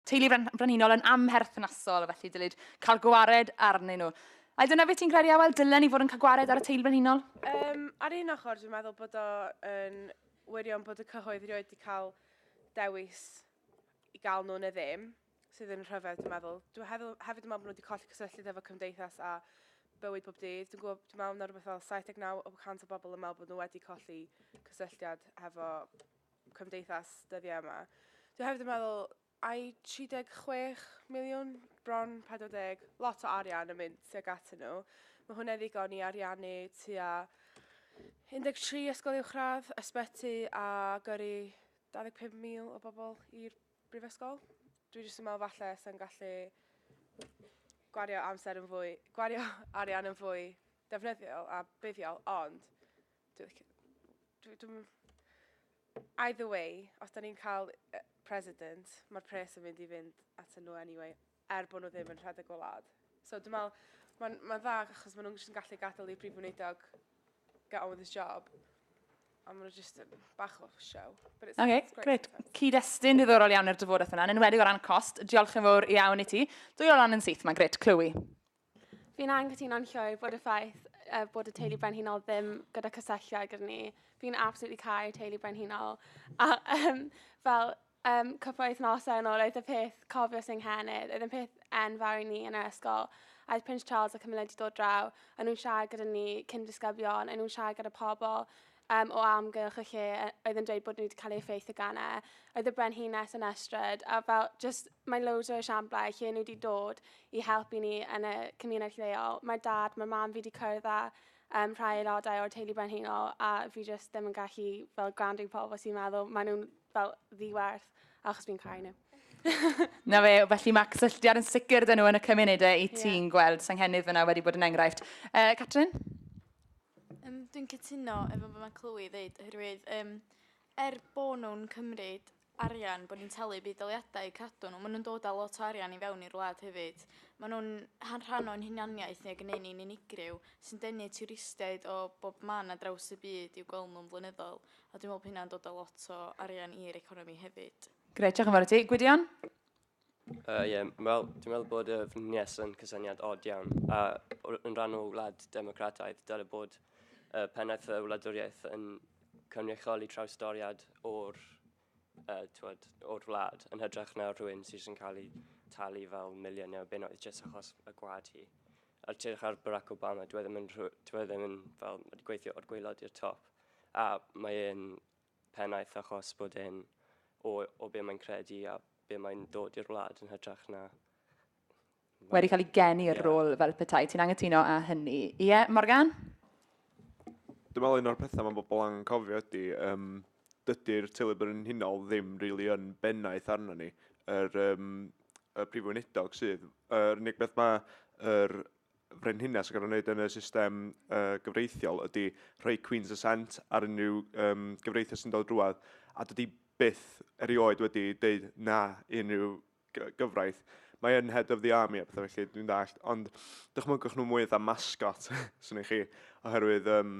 Teulu Frenhinol yn amherthnasol, felly dylid cael gwared arnyn nhw. A dyna beth ti'n credu, Awel, dylen ni fod yn cael gwared ar y teulu frenhinol? Um, ar un ochr, dwi'n meddwl bod o'n wirion bod y cyhoedd rioed wedi cael dewis i gael nhw'n y ddim, sydd yn rhyfedd, dwi'n meddwl. Dwi'n hefyd, hefyd yn meddwl bod nhw wedi colli cysylltiad efo cymdeithas a bywyd bob dydd. Dwi'n gwybod, dwi'n meddwl na rhywbeth fel 79 o 100 o bobl yn meddwl bod nhw wedi colli cysylltiad efo cymdeithas dyddiau yma. Dwi hefyd yn meddwl, ai 36 miliwn, bron 40, lot o arian yn mynd tuag at nhw. Mae hwnna'n ddigon i ariannu tua 13 ysgol uwchradd, ysbyty a gyrru 25,000 o bobl i'r brifysgol. Dwi jyst yn meddwl falle sy'n gallu gwario amser yn fwy, gwario arian yn fwy defnyddiol a buddiol, ond Dwi licio... Dwi... Dwi'm... Either way, os da ni'n cael uh, president, mae'r pres yn mynd i fynd at nhw anyway, er bod nhw ddim yn rhedeg y wlad. So dwi'n meddwl, mae'n ma dda achos maen nhw'n jyst yn gallu gadael i brif wneudog get on with his job. A maen nhw jyst yn bach o show. But it's, okay, it's great. great. Cyd-destun ddiddorol iawn i'r dyfodeth yna, yn enwedig o ran cost. Diolch yn fawr iawn i ti. Dwy o ran yn syth, mae'n gret, clywi. Fi'n anghytuno'n llwyr bod y ffaith uh, bod y teulu brenhinol ddim gyda cysylltiad gyda ni. Fi'n absolutely cael teulu brenhinol. A um, fel um, cwpl wythnosau yn ôl, oedd y peth cofio sy'n nghennydd, oedd y peth enfawr i ni yn yr ysgol. A oedd Prince Charles a Camilla wedi dod draw, a nhw'n siarad gyda ni cyn disgyblion, a nhw'n siarad gyda pobl um, o amgylch y lle e, oedd yn dweud bod nhw wedi cael ei effeithio gan e. Oedd y brenhines yn estryd, a fel, just, mae loads o esiamplau lle nhw wedi dod i helpu ni yn y cymuned lleol. Mae dad, mae mam fi wedi cyrraedd â um, rhai aelodau o'r teulu brenhinol, a fi just ddim yn gallu fel gwrando i pobl sy'n meddwl, maen nhw'n fel ddiwerth, achos fi'n cael nhw. Na fe, felly mae cysylltiad yn sicr dyn nhw yn y cymunedau i ti'n yeah. gweld Senghennydd fyna wedi bod yn enghraifft. Uh, Catrin? Yym dwi'n cytuno efo be' ma' Clwyd ddeud oherwydd yym er bo' nw'n cymryd arian bo' ni'n talu budd-daliadau i cadw n'w ma' nw'n dod â lot o arian i fewn i'r wlad hefyd. Ma' nw'n han- rhan o'n hunaniaeth ni ag yn neu' ni'n unigryw sy'n denu twristiaid o bob man ar draws y byd i'w gweld nw'n flynyddol a dwi me'wl bo' hynna'n dod â lot o arian i'r economi hefyd. Grêt diolch yn fawr i ti. Gwydion? Uh, yeah, wel, dwi'n meddwl bod y fnynias yn cysyniad od iawn, a yn rhan o wlad democrataidd, dyle bod uh, pennaeth y wladwriaeth yn cynrychioli trawstoriad o'r, uh, twod, o'r wlad, yn hydrach na rhywun sydd yn cael ei talu fel miliynau o bunnoedd jyst achos y gwad hi. A'r tyrch ar Barack Obama, dwi e ddim yn, dwi e ddim yn fel, wedi gweithio o'r gweilod i'r top, a mae e'n pennaeth achos bod e'n o o be mae'n credu a be mae'n dod i'r wlad yn hytrach na wedi cael ei geni i'r rôl fel petai. Ti'n angytuno â hynny? Ie, Morgan? Dwi'n meddwl un o'r pethau mae bobl angen cofio ydy, um, dydy'r teulu brenhinol ddim rili really yn bennaeth arno ni. Yr, um, y prif weinidog sydd, yr unig beth mae yr frenhines ac yn wneud yn y system uh, gyfreithiol ydy rhoi Queen's Ascent ar unrhyw um, gyfreithiau sy'n dod drwad a dydy byth erioed wedi deud na unrhyw gyfraith. Mae yn head of the army a pethau felly, dwi'n dallt. Ond dychmygwch nhw mwy dda mascot, sy'n eich chi, oherwydd um,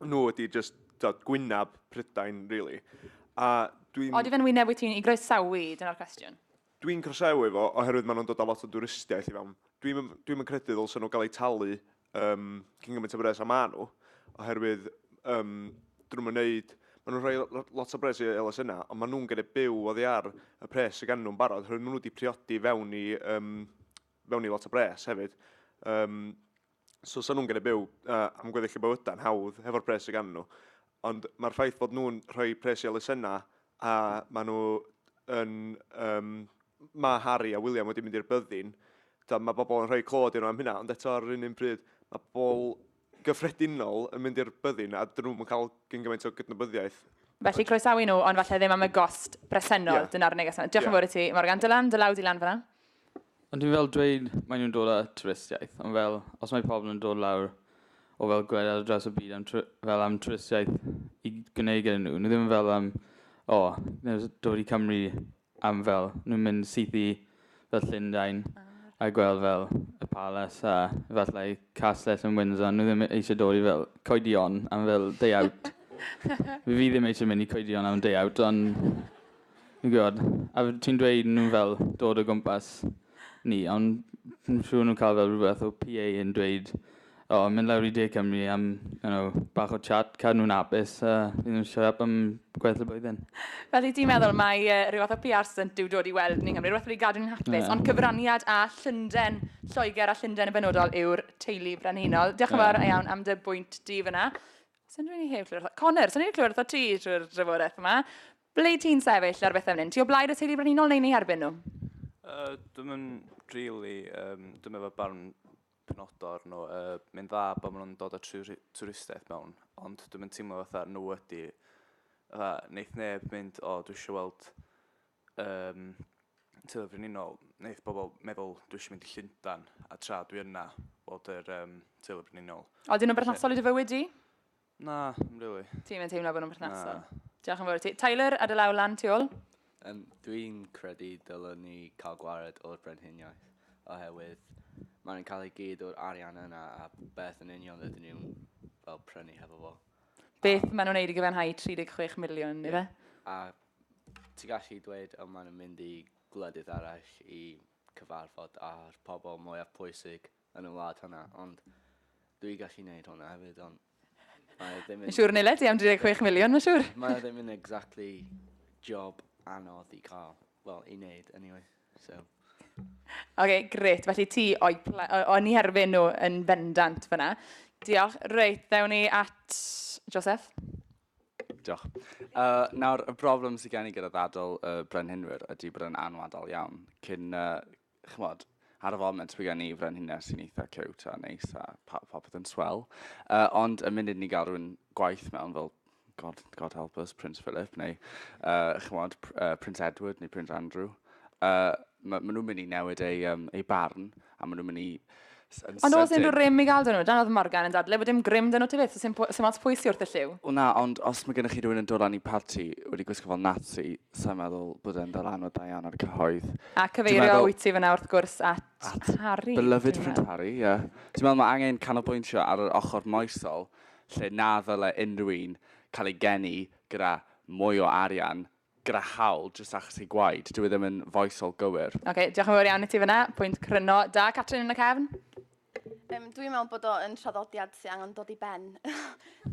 nhw wedi just dod gwynab Prydain, really. A dwi'n... Oeddi fe'n wyneb wyt ti'n i groesawu, dyna'r cwestiwn. Dwi'n croesawu fo oherwydd maen nhw'n dod â lot o dwristiaeth i fewn. Dwi'm yn dwi'm yn credu ddylsen nhw gael eu talu yym cyn gymaint o bres a maen nhw oherwydd yym 'dyn nhw'm yn wneud... maen nhw'n rhoi lo- lot o bres i elusennau ond maen nhw'n gorfod byw oddi ar y pres sydd ganddo nhw'n barod oherwydd maen nhw wedi priodi fewn i yym fewn i lot o bres hefyd. Yym. So, sa'n nhw'n gallu byw uh, am gweddill y bywydau'n hawdd hefo'r pres sydd gan nhw. Ond mae'r ffaith bod nhw'n rhoi pres i elusennau a maen nhw yn... Um, mae Harry a William wedi mynd i'r byddin, da, mae bobl yn rhoi clod i'r am hynna, ond eto ar yr un un pryd, mae bobl gyffredinol yn mynd i'r byddin a dyn nhw'n cael gyn gymaint o gydnabyddiaeth. Felly croesawu nhw, ond falle ddim am y gost bresennol, yeah. dyna'r neges yna. Diolch yn yeah. fawr i ti, Morgan. Dylan, dy law di lan fyna. Ond dwi'n fel dweud, maen nhw'n dod â twristiaeth, ond fel, os mae pobl yn dod lawr o fel gwledydd ar draws y byd am tw- fel am twristiaeth i gwneud gyda nhw, nhw ddim fel am, o, oh, dod i Cymru am fel, nhw'n mynd syth i fel Llundain a gweld fel y palace a efallai castell yn Windsor, nhw ddim eisiau dod i fel coedion am fel day out. Fi ddim eisiau mynd i coedion am day out, ond Dwi'n gwybod. A f- ti'n dweud nhw fel dod o gwmpas ni, ond dwi'n siŵr nhw'n cael fel rhywbeth o PA yn dweud, o, mynd lawr i De Cymru am you know, bach o chat, cadw nhw'n apus, a fydd nhw'n siarad am gwaith y blwyddyn. Felly ti'n meddwl mae uh, rhyw fath o PR stunt yw dod i weld ni'n Nghymru, rhywbeth wedi gadw ni'n hapus, yeah. ond cyfraniad a Llynden, Lloegr a Llynden yn benodol yw'r teulu brenhinol. Diolch yn fawr yeah. iawn am dy bwynt di fyna. Sa'n rili heb clywed wrtho. Connor, sa'n rili clywed wrtho ti drwy'r drafodaeth yma. Ble ti'n sefyll ar bethau fan hyn? Ti o blaid y teulu brenhinol neu'n ei erbyn nhw? Uh, dwi'n yn really, um, dwi'n efo barn penodor nhw. Uh, Mae'n dda bod maen nhw'n dod o twristiaeth mewn, ond dwi'n yn teimlo fatha nhw ydi, fatha, neith neb mynd, o, dwi eisiau weld um, tyfu brenhinol, wneud pobl meddwl dwi eisiau mynd i Llundan, a tra dwi yna, bod yr um, tyfu brenhinol. O, dyn nhw'n berthnasol i dy fywyd di? Na, yn rili. Ti'n mynd teimlo bod nhw'n berthnasol? Diolch yn fawr i ti. Tyler, ar y law lan, ti ôl? Um, Dwi'n credu dylwn ni cael gwared o'r brenhiniaeth, oherwydd mae'n cael ei gyd o'r arian yna a beth yn union ydyn nhw'n fel prynu hefo fo. Beth maen nhw'n neud i gyfenhau 36 miliwn, yeah. ife? A Ti gallu dweud y maen nhw'n mynd i gwledydd arall i cyfarfod â'r pobl mwyaf pwysig yn y wlad hwnna, ond dwi gallu neud hwnna hefyd, ond mae e ddim yn... Yn siŵr Nile, ti am 36 miliwn, mae'n siŵr. Mae e ddim yn exactly job anodd i cael, wel, i neud, anyway, so. Ok, grêt. Felly ti o'i ple... o- o'n i herbyn nhw yn bendant fyna. Diolch. Reit, ddewn ni at Joseph. Diolch. Uh, nawr, y broblem sydd gen i gyda ddadl y uh, brenhinwyr ydy bod yn anwadol iawn. Cyn, uh, chymod, ar y foment mae gen i frenhines sy'n eitha cewt a neis a popeth yn swell. Uh, ond y munud ni gael rhywun gwaith mewn fel God, God help us, Prince Philip, neu, uh, chymod, uh, Prince Edward neu Prince Andrew, uh, maen ma nhw'n mynd i newid eu, um, eu barn, a maen nhw'n mynd i... Ond os unrhyw rym i gael dyn nhw, dan oedd Morgan yn dadle bod dim grym dyn nhw ti beth, sy'n sy mas pwy sy'n wrth y lliw. O na, ond os mae gennych chi rhywun yn dod lan i parti wedi gwisgo fel Nazi, sa'n meddwl bod e'n dal anodd da iawn ar y cyhoedd. A cyfeirio wyt ti fyna wrth gwrs at, at Harry. Beloved Prince Harry, ie. Yeah. Ti'n meddwl mae angen canolbwyntio ar yr ochr moesol lle na ddyle unrhyw un cael ei geni gyda mwy o arian gyda haul jyst achos ei gwaed. Dyw e ddim yn foesol gywir. Ok, diolch yn fawr iawn i ti fyna. Pwynt cryno da. Catrin yn y cefn. Um, Dwi'n meddwl bod o yn traddodiad sy'n angen dod i ben.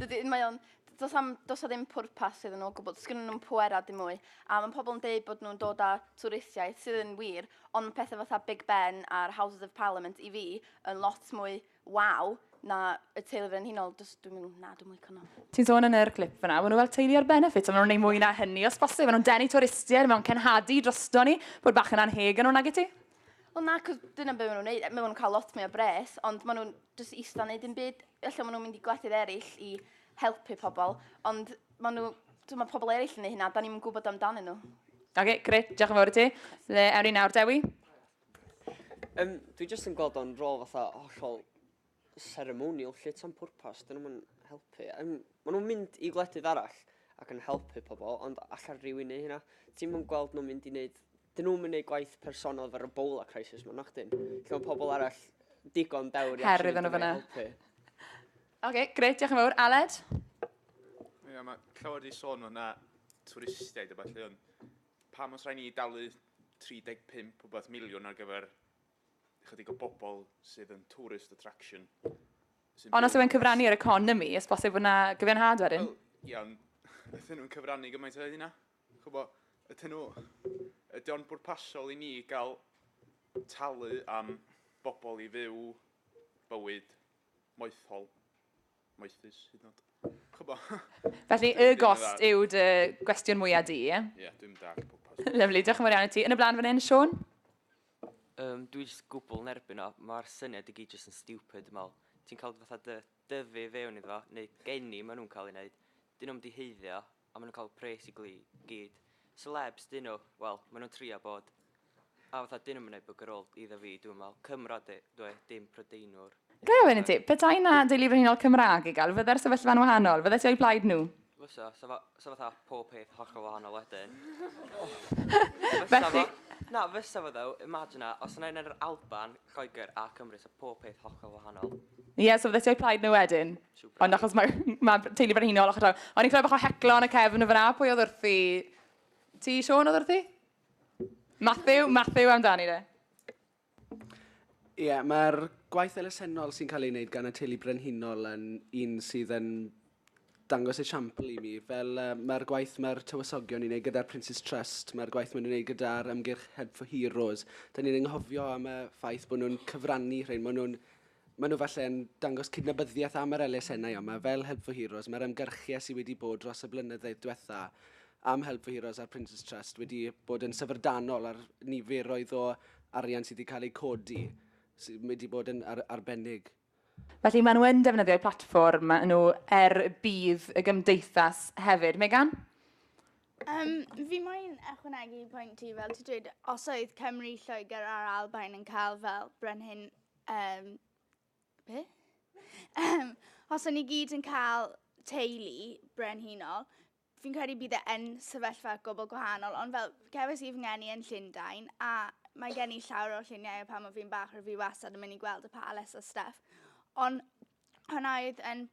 Dydy, mae o'n does, am, does o ddim pwrpas iddyn nhw o gwbl, does gennyn nhw'n pwera dim mwy. A mae pobl yn dweud bod nhw'n dod â twristiaeth sydd yn wir, ond mae pethau fatha Big Ben a'r Houses of Parliament i fi yn lot mwy Waw, na, y teulu frenhinol, dys, dwi'n mynd, na, dwi'n mwyn nhw. Ti'n sôn yn yr clip fyna, maen nhw fel teulu ar benefit, a maen nhw'n ei mwy na hynny, os bosib, maen nhw'n denu twristiaid, maen nhw'n cenhadu drosto ni, bod bach yn anheg yn nhw, nag i ti? Wel na, cos dyna beth maen nhw'n neud. Maen nhw'n cael lot mwy o bres, ond maen nhw'n just eista yn neud yn byd. Felly maen nhw'n mynd i gwledydd eraill i helpu pobl, ond maen nhw, dwi'n meddwl pobl eraill yn ei hynna, da ni'n gwybod amdanyn nhw. Oce, okay, gret, diolch yn fawr i ti. Le, ewn ni nawr, Dewi? Yym, dwi jyst yn gweld o'n rôl fatha hollol ceremonial 'lly, tan pwrpas, 'dyn nhw'm yn helpu. Yym, ma' nhw'n mynd i gwledydd arall ac yn helpu pobl, ond alla rywun neu hynna? Ti'm yn gweld nhw'n mynd i wneud... 'dyn nhw'm yn neud gwaith personol efo'r Ebola crisis 'ma, nacdyn? Lle mae pobl arall digon dewr i actually yn mynd i helpu. Oce, gret, diolch yn fawr. Aled? Ie, mae clywed i sôn o 'na twristiaid a ballu, ond Pam os rhaid ni dalu 35 wbath miliwn ar gyfer ychydig o bobl sydd yn tourist attraction? Sy'n Ond os yw e'n cyfrannu i'r economi, os bosib fod yna gyfiawnhad wedyn? Wel, ie, ond ydyn nhw'n cyfrannu gymaint o hynna? Chwbod, ydyn nhw... Ydy o'n bwrpasol i ni gael talu am bobl i fyw bywyd moethol? Moethus, hyd yn oed. Chybo. Felly, y gost yw dy gwestiwn mwyaf di, ie? Ie, yeah, dwi'n dall pob pas. Lyflu, diolch yn fawr iawn i ti. Yn y blaen fan hyn, Sean? Um, dwi'n just gwbl nerbyn o. Mae'r syniad i gyd just yn stupid, dwi'n meddwl. Ti'n cael fatha dy, dyfu fewn iddo, neu geni maen nhw'n cael ei wneud. Dyn nhw'n diheiddio, A maen nhw'n cael pres i gyd. Celebs 'dyn nhw, wel, maen nhw'n trio bod. A fatha, 'dyn nhw'm yn neud bwgr ôl iddo fi, dwi'n meddwl. Cymro ydw i, dim Prydeinwr. Ga i ofyn i ti, petai 'na deulu frenhinol Cymraeg i gael, fydde'r sefyllfa'n wahanol? Fyddet ti o'i blaid nhw? Fysa, 'sa fo, 'sa fatha pob peth hollol wahanol wedyn. Fysa fo, na, fysa fo ddo, imajina, os yna un yn yr Alban, Lloegr a Cymru, 'sa pob peth hollol wahanol. Ie, so fyddet ti o'i plaid nhw wedyn? Ond achos mae ma teulu frenhinol ochr draw. O'n i'n clywed bach o heclo yn y cefn o fyna. Pwy oedd wrthi? Ti, Sean, oedd wrthi? Matthew, Matthew amdani de. Ie, yeah, mae'r gwaith elusennol sy'n cael ei wneud gan y teulu brenhinol yn un sydd yn dangos esiampl i mi. Fel uh, mae'r gwaith mae'r tywysogion ni'n ei gyda'r Prince's Trust, mae'r gwaith maen nhw'n ei gyda'r ymgyrch Head for Heroes. Da ni'n enghofio am y ffaith bod nhw'n cyfrannu rhain, maen nhw'n Maen nhw falle yn dangos cydnabyddiaeth am yr elusennau yma fel Help for Heroes. Mae'r ymgyrchiad sydd wedi bod dros y blynyddoedd diwetha am Help for Heroes a'r Prince's Trust wedi bod yn syfrdanol ar niferoedd o arian sydd wedi cael eu codi sydd wedi bod yn ar arbennig. Felly maen nhw yn defnyddio'u platfform maen nhw er budd y gymdeithas hefyd. Megan? Um, fi moyn ychwanegu pwynt ti, fel ti dweud, os oedd Cymru, Lloegr a'r Albain yn cael fel brenhin Um, be? Um, os o'n i gyd yn cael teulu brenhinol, fi'n credu bydd e yn sefyllfa gwbl gwahanol, ond fel cefais i fy ngeni yn Llundain, a mae gen i llawer o lluniau o pan o fi'n bach, rwyf fi wastad yn mynd i gweld y palace a stuff. Ond hwnna oedd yn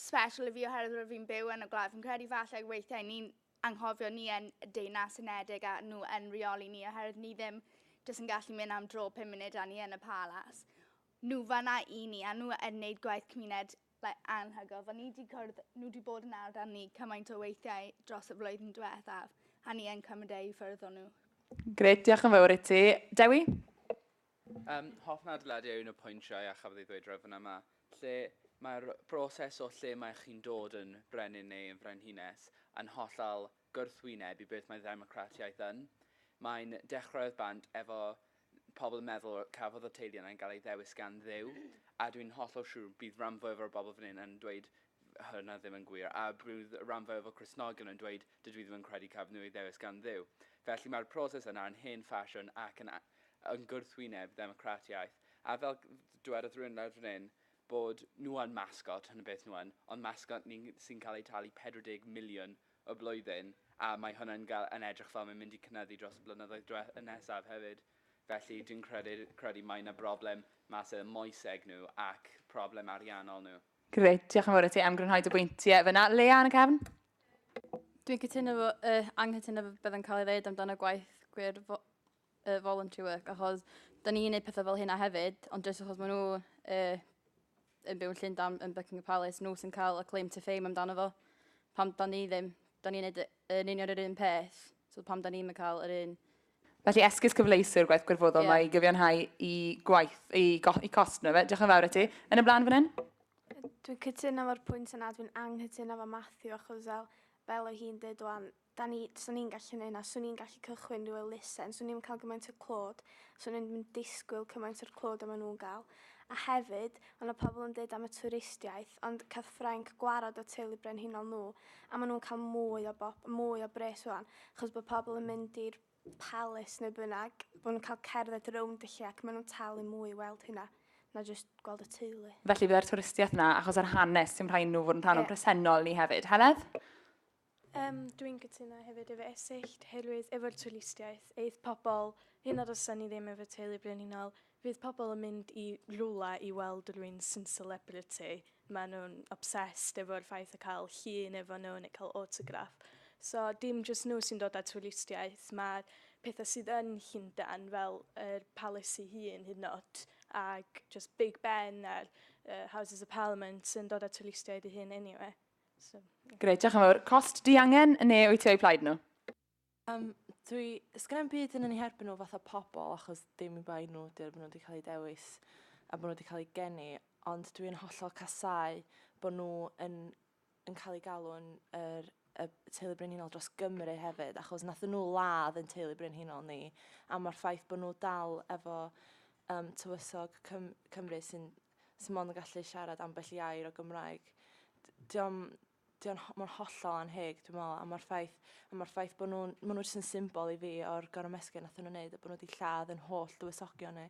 special i fi oherwydd rwyf fi'n byw yn y gwlad. Fi'n credu falle weithiau ni'n anghofio ni yn y Deyrnas Unedig a nhw yn reoli ni oherwydd ni ddim jyst yn gallu mynd am dro pum munud a ni yn y palas. Nhw fanna i ni a nhw yn wneud gwaith cymuned like, anhygoel. Fel ni wedi cwrdd, nhw wedi bod yn ardd ni cymaint o weithiau dros y flwyddyn diwethaf a ni yn cymryd eu ffyrdd o nhw. Gret, diolch yn fawr i ti. Dewi? Ym mhob adeilad yw un o'r pwyntiau a chafodd ei ddweud rŵan fan'na yma, lle mae'r broses o lle mae chi'n dod yn frenin neu yn frenhines yn hollol gwrthwyneb i beth mae ddemocratiaeth yn. Mae'n dechrau oedd bant efo pobl yn meddwl cafodd y teulu yna yn cael ei ddewis gan Dduw, a dwi'n hollol siŵr bydd ran fwyaf o'r bobl fan hyn yn dweud hwnna ddim yn gwir, a roedd ran fwyaf o Gristnogion yn dweud, dydw i ddim yn credu caf nhw eu ddewis gan Dduw. Felly mae'r proses yna yn hen ffasiwn ac yn yn gwrthwyneb ddemocratiaeth, a fel dywedodd rhywun lawr fan hyn, bod nhw yn masgot, hwn y beth nhw yn, ond masgot ni'n sy'n cael eu talu 40 miliwn y blwyddyn, a mae hwnna yn gael yn edrych fel mae'n mynd i cynyddu dros y blynyddoedd dwe- y nesaf hefyd. Felly dwi'n credu credu mae yna broblem massive moeseg nhw ac problem ariannol nhw. Gret, diolch yn fawr i ti am grynhoi dy bwyntiau fyna. Lea yn y cefn? Dwi'n cytuno fo, uh, anghytuno fo beth yn cael ei ddeud amdano gwaith gwir fo, uh, voluntary work, achos da ni'n gwneud pethau fel hynna hefyd, ond jyst achos maen nhw uh, yn byw'n Llundain, yn Buckingham Palace, nhw sy'n cael y claim to fame amdano fo. Pam da ni ddim, da ni'n gwneud yn union yr un peth, so pam da ni'n cael yr un Felly esgus cyfleus yw'r gwaith gwirfoddol mae i gyfiawnhau i gwaith, i, go, i cost nhw fe. Diolch yn fawr i ti. Yn y blaen fan hyn? Dwi'n cytuno fo'r pwynt yna, dwi'n anghytuno fo Matthew achos fel, fel o hi'n dweud o'n, da ni, swn i'n gallu neud na, swn i'n gallu cychwyn rhyw elusen, swn i'n cael gymaint o clod, swn i'n mynd disgwyl cymaint o'r clod yma nhw'n gael. A hefyd, ond o pobl yn dweud am y twristiaeth, ond cath Ffrainc gwarad o teulu brenhinol nhw, a maen nhw'n cael mwy o, bob, mwy o bres o'n. Achos bod pobl yn mynd i'r palace neu bynnag, bod nhw'n cael cerdded rownd y lle ac maen nhw'n talu mwy i weld hynna na jyst gweld y teulu. Felly byddai'r twristiaeth yna achos yr hanes sy'n rhaid nhw fod yn rhan yeah. o'n presennol ni hefyd. Heledd? Um, Dwi'n cytuno hefyd efo esyllt, herwydd efo'r twristiaeth, eith pobl, hyn ar ysyn ni ddim efo teulu brenhinol, Fydd pobl yn mynd i rywle i weld rywun sy'n celebrity, maen nhw'n obsessed efo'r ffaith o cael llun efo nhw neu cael autograph. So dim jyst nhw sy'n dod â twristiaeth, mae'r pethau sydd yn Llundain fel yr Palace ei hun hyd yn oed ac jyst Big Ben a'r uh, Houses of Parliament sy'n dod â twristiaid ei hun anyway. So, yeah. Grêt, diolch yn fawr. Cost diangen neu wyt ti o'u plaid nhw? Yym dwi... Sgynna i'm byd yn yn 'u herbyn nhw fatha pobol achos dim i bai nhw 'di o, maen nhw 'di cael eu dewis a maen nhw 'di cael eu geni ond dwi'n hollol casáu bod nhw yn yn cael eu galw'n yr y teulu brenhinol dros Gymru hefyd achos nathon nhw ladd ein teulu brenhinol ni a ma'r ffaith bod nhw dal efo yym tywysog Cym Cymru sy'n sy mond yn gallu siarad ambell i air o Gymraeg d- 'di o'm 'di o'n ho- ma'n hollol annheg dwi me'wl a ma'r ffaith a ma'r ffaith bo' nw'n ma' n'w jys yn symbol i fi o'r gorymesgyn nathon n'w neud a bo' n'w 'di lladd 'yn holl dywysogion ni.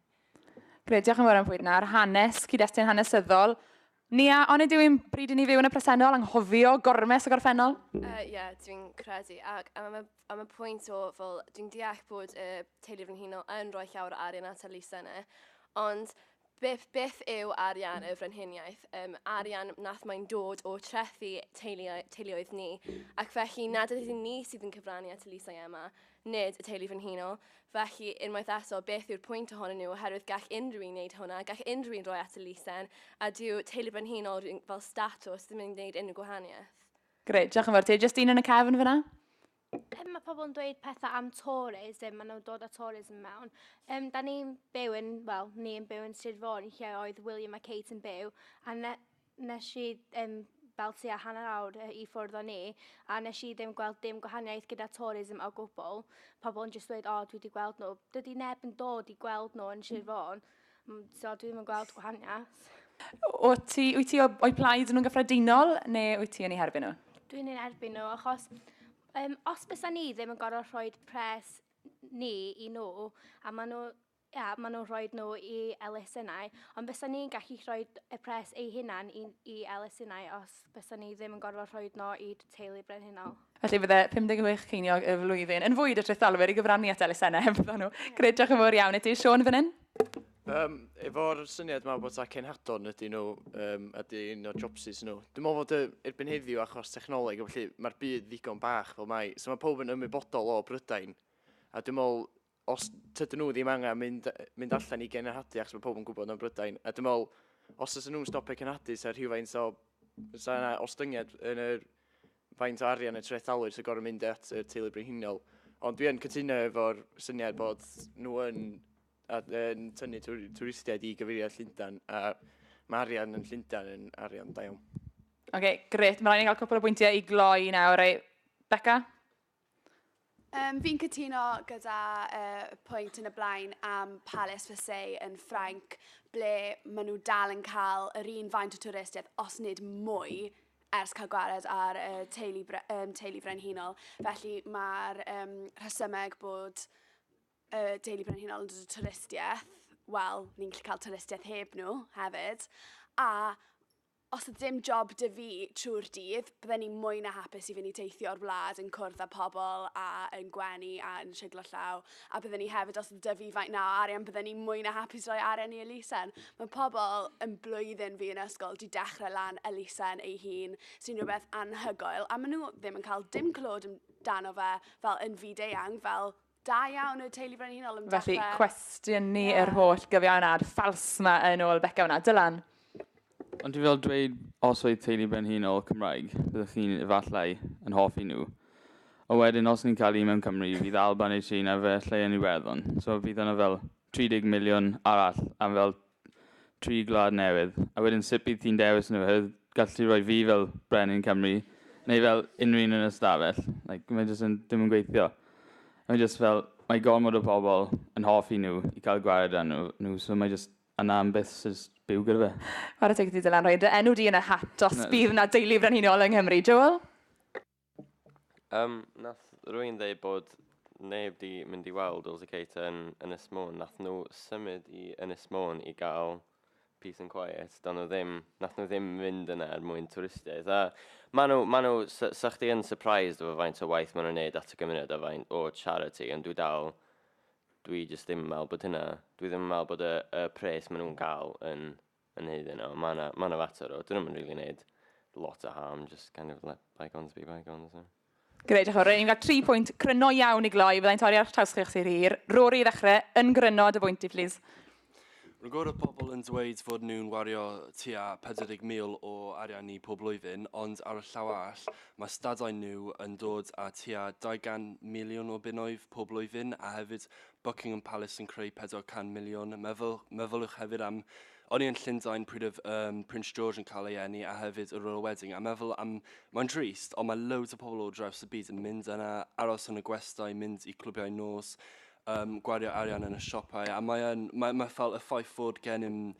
Grêt, diolch yn fawr am fwyd yna ar hanes, cyd-destun hanesyddol. Nia, onid yw'n bryd i ni fyw yn y presennol, anghofio gormes y gorffennol? Ie, uh, yeah, dwi'n credu. Ac am y, am y pwynt o, fel, dwi'n deall bod y teulu frenhinol yn rhoi llawer o arian at y lysenau, ond Beth, beth yw arian y frenhiniaeth? Um, arian nath mae'n dod o trethu teuluoedd, teuluoedd ni, ac felly nad ydyn ni sydd yn cyfrannu at y Lisa i Emma, nid y teulu frenhinol. Felly, unwaith eto, beth yw'r pwynt ohonyn nhw, oherwydd gall unrhyw un wneud hwnna, gall unrhyw un roi at y Lisen, a dyw teulu brenhinol fel statws ddim yn gwneud unrhyw gwahaniaeth. Gret, diolch yn fawr ti. Justine yn y cefn fyna? Yym, mae pobl yn dweud pethau am tourism, maen nhw'n dod â tourism mewn. Um, da ni'n byw yn, wel, ni'n byw yn Sir Fôn, lle oedd William a Kate yn byw, a ne, nes i um, fel tua hanner awr i ffwrdd o ni, a nes i ddim gweld dim gwahaniaeth gyda tourism o gwbl. Pobl yn just dweud, o, dwi wedi gweld nhw. Dydy neb yn dod i gweld nhw yn Sir Fôn. Mm, so dwi ddim yn gweld gwahaniaeth. Wyt ti, wyt ti o'i plaid nhw'n gyffredinol neu wyt ti yn ei herbyn nhw? Dwi'n ei herbyn nhw achos um, os bys ni ddim yn gorfod rhoi pres ni i nhw a maen nhw ia, maen nhw'n rhoi nhw i elusennau, ond bys ni'n gallu rhoi y pres ei hunan i, i elusennau os bysa ni ddim yn gorfod rhoi dno i teulu brenhinol. Felly bydde 56 ceiniog y flwyddyn yn fwyd y trethdalwyr i gyfrannu at elusennau heb fyddo nhw. Gred, diolch yn fawr iawn i ti. Sean, fan hyn? Um, efo'r syniad yma bod ta cenhadon ydy nhw, um, ydy un o'r jobsus nhw. Dwi'n meddwl fod erbyn heddiw achos technoleg, felly mae'r byd ddigon bach fel mai. So mae pob yn ymwybodol o Brydain. A dwi'n meddwl os tydyn nhw ddim angen mynd, mynd allan i genhadu achos mae pobl yn gwybod yn Brydain. A dwi'n meddwl, os ydyn nhw'n stopio cenhadu, sa'n rhywfaint o... Sa'n yna ostyngiad yn yr faint o arian y trethalwyr sy'n gorau mynd at y teulu brenhinol. Ond dwi'n cytuno efo'r syniad bod nhw yn, yn tynnu twristiaid i gyfeiriad Llundain a mae arian yn Llundain yn arian da iawn. Oce, okay, gret. Mae rhaid i ni cael cwpl o bwyntiau i gloi nawr. Ei, Becca? Um, fi'n cytuno gyda uh, pwynt yn y blaen am Palace for Say yn Ffrainc, ble maen nhw dal yn cael yr un faint o twristiaeth, os nid mwy, ers cael gwared ar uh, teulu, um, teulu brenhinol. Felly mae'r um, rhesymeg bod uh, teulu brenhinol yn dod o twristiaeth, wel, ni'n gallu cael twristiaeth heb nhw hefyd. A Os oedd dim job 'da fi trwy'r dydd, bydden i mwy na hapus i fynd teithio'r wlad yn cwrdd â pobl a yn gwenu a yn siglo llaw, a bydden i hefyd, os oedd 'da fi faint 'na o arian, bydden i mwy na hapus rhoi arian i elusen. Mae pobl yn blwyddyn fi yn ysgol 'di dechrau lan elusen eu hun, sy'n rhywbeth anhygoel, a maen nhw ddim yn cael dim clod amdano fe fel yn fyd-eang, fel Da iawn y teulu frenhinol yn Felly, dechrau. cwestiwn ni yeah. yr holl gyfiawnad ffals ma yn ôl Becca hwnna. Dylan? Ond dwi fel dweud, os oedd teulu brenhinol Cymraeg, byddwch chi'n efallai yn hoffi nhw. Ond wedyn, os ni'n cael un mewn Cymru, fydd Alban neu Tsieina fe lle yn Iwerddon. So fydd yna fel 30 miliwn arall am fel tri gwlad newydd, a wedyn sut bydd ti'n dewis nhw? Oherwydd gall ti roi fi fel brenin Cymru, neu fel unrhyw un yn y stafell. Like, mae jyst yn, dim yn gweithio. Mae jyst fel, mae gormod o pobl yn hoffi nhw i cael gwared â nhw, nhw so mae jyst yna am byth sy'n jyst byw gyda fe. Chwarae teg i ti Dylan, rhoi dy enw di yn y hat os bydd 'na deulu frenhinol yng Nghymru. Joel? Um, nath rwy'n dweud bod neb di mynd i weld Wales y Kate yn Ynys Môn. Nath nhw symud i Ynys Môn i gael peace and quiet. Do'n nhw ddim, nath nhw ddim mynd yna er mwyn twristiaeth. A maen nhw, maen nhw, sa, sa chdi yn surprised efo faint o waith maen nhw'n neud at y gymuned a faint o charity, ond dwi dal, dwi jyst ddim yn meddwl bod hynna, dwi ddim yn meddwl bod y, y pres maen nhw'n gael yn yn neud hyn, ond mae yna fater o, dyn nhw'n rili really neud lot o harm, just kind of let bygones be bygones. So. Greu, diolch Rory. Ni'n cael tri pwynt gryno iawn i gloi. Byddai'n torri ar traws chi'ch sy'n hir. Rory i ddechrau, yn gryno, dy bwynt i, please. Rwy'n gwybod y pobl yn dweud fod nhw'n wario tua 40,000 o arian ni pob blwyddyn, ond ar y llaw all, mae stadau nhw yn dod â tua 200 miliwn o bunnoedd pob blwyddyn, a hefyd Buckingham Palace yn creu 400 miliwn. Meddwl, meddylwch hefyd am, o'n i yn Llundain pryd oedd um, Prince George yn cael ei enni a hefyd y Royal Wedding, a meddwl am, mae'n drist, ond mae loads o pobl o draws y byd yn mynd yna, aros yn y gwestai, mynd i clwbiau nos, um, gwario arian yn y siopau, a mae'n mae, mae fel y ffaith fod gennym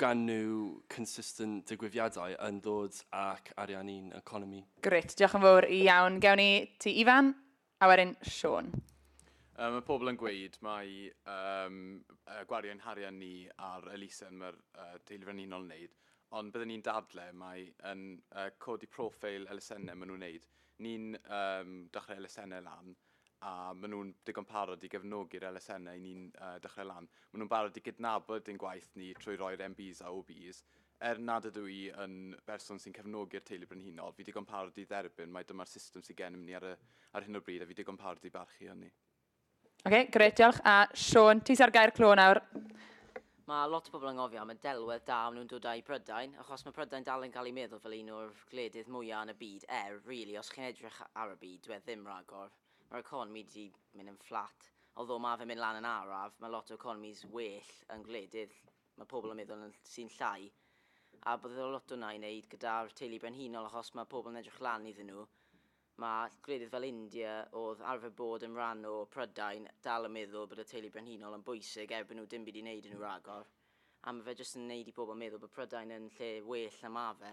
gan nhw consistent digwyddiadau yn dod ac arian i'n economi. Gret, diolch yn fawr iawn. Gewn ni ti, Ifan? A wedyn Siôn. Um, mae pobl yn gweud mae um, gwario ein harian ni ar elusen mae'r uh, teulu frenhinol yn wneud, ond byddwn ni'n dadle mae yn uh, codi profil elusennau maen nhw'n wneud. Ni'n um, dechrau elusennau lan a maen nhw'n digon parod i gefnogi'r elusennau ni'n uh, dechrau lan. Maen nhw'n barod i gydnabod ein gwaith ni trwy roi'r MBs a OBs Er nad ydw i yn berson sy'n cefnogi'r teulu brenhinol, fi digon parod i dderbyn mai dyma'r system sydd gennym ni ar y ar hyn o bryd a fi digon parod i barchu hynny. Oce, grêt, diolch. A Siôn, ti sy ar gae'r clo nawr. Mae lot o bobl yn ngofio am y delwedd da o'n nhw'n dod â i Brydain, achos mae Prydain dal yn cael ei meddwl fel un o'r gwledydd mwyaf yn y byd, er, rili, os chi'n edrych ar y byd, dyw e ddim rhagor. Mae'r economi 'di mynd yn fflat. Although mae fe'n mynd lan yn araf, mae lot o economis well yn gwledydd mae pobl yn meddwl yn sy'n llai a bod iddo lot o na i wneud gyda'r teulu brenhinol achos mae pobl yn edrych lan iddyn nhw. Mae gwledydd fel India oedd arfer bod yn rhan o Prydain dal yn meddwl bod y teulu brenhinol yn bwysig erbyn nhw dim byd i wneud yn nhw ragor a mae fe jyst yn wneud i pobl meddwl bod Prydain yn lle well na mae fe.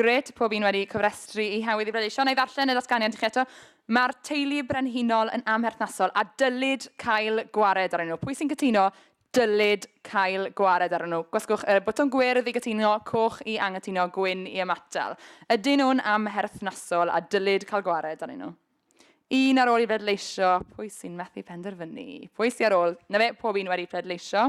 Grêt, pob un wedi cofrestru i Hawdd i Bleidleisio. Wna i ddarllen y ddatganiad i chi eto. Mae'r teulu brenhinol yn amherthnasol a dylid cael gwared arnyn nhw. Pwy sy'n cytuno dylid cael gwared arnyn nhw? Gwasgwch y botwm gwyrdd i gytuno, coch i anghytuno, gwyn i ymatal. Ydyn nhw'n amherthnasol a dylid cael gwared arnyn nhw? Un ar ôl i bleidleisio, pwy sy'n methu penderfynu? Pwy sy'n ar ôl? Na fe, pob un wedi pleidleisio.